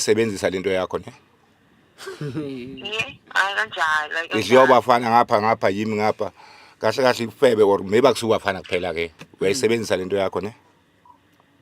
isebenzisa lento yakho ne akanjalo idliwa bafana ngapha ngapha yimi ngapha kahle kahle ifebe or maybe akusuka bafana kuphela ke uyayisebenzisa lento yakho ne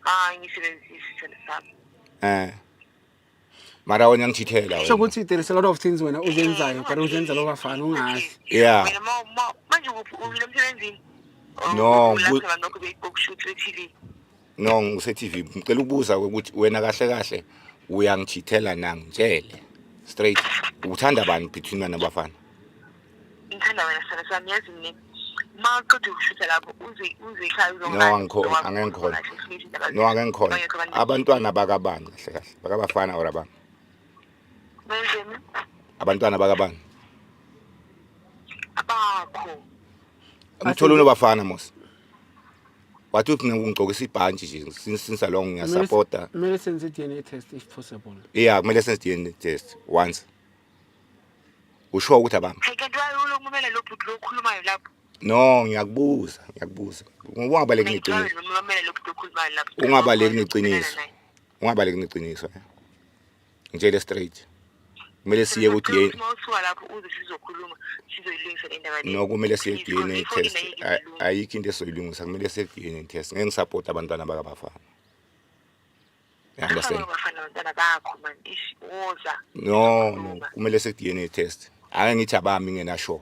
hayi ngisebenzisa isithelo sami eh mara wena ngithithela wena sokuthi there is a lot of things wena uzenzayo kodwa uzenza lo bafana ungazi yeah wena ma ma manje uphi umile emsebenzini No, Ukulahla ku- abantu lokho beyibhokshutha e-TV. no ngise TV ngicela ukubuza ukuthi wena kahle kahle uyangithithela na ngitshele straight uthanda bani between wena bafana ngithanda wena sithando sami yazi mina uma uqeda ukushutha lapho uzikhaya no angikhona angengikhona no angengikhona abantwana bakabani kahle kahle bakabafana or abani abantwana bakabani abakho ngithola unobafana mos wathi uthi ngingigqokisa ibhantshi nje since since long ngiyasupporta kumele senze DNA test if possible yeah kumele senze DNA test once usho ukuthi abami Hey kanti wayolo kumele lo bhuti lo okhulumayo lapho. no ngiyakubuza ngiyakubuza ungabaleki Mina ngicabanga neqiniso noma kumele lo bhuti okhulumayo lapho. ungabaleki neqiniso ungabaleki neqiniso eh. ngitshele straight kumele siye ku DNA mawusuka lapho uze sizokhuluma sizoyilungisa le ndaba no kumele siye ku DNA test ayikho into esoyilungisa kumele siye ku DNA test ngeke ngisupport abantwana bakabafana understand abafana abantwana bakho man ish woza no no kumele siye ku DNA test ake ngithi abami ngena sure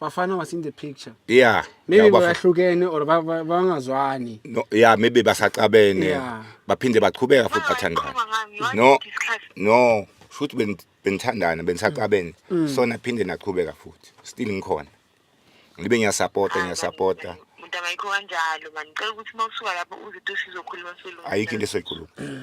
Bafana was in the picture. Yeah. Maybe Yabo bafana- bayahlukene or ba- ba- bangazwani. no, yeah maybe basacabene Yeah. baphinde baqhubeka futhi bathandana no no futhi ben- benithandana benisacabene Mm. so naphinde naqhubeka futhi still ngikhona ngibe ngiyasapota ngiyasapota mntangayikho kanjalo mani cela ukuthi uma usuka lapho uzito sizokhuluma selunga ayikho into esoyikhuluma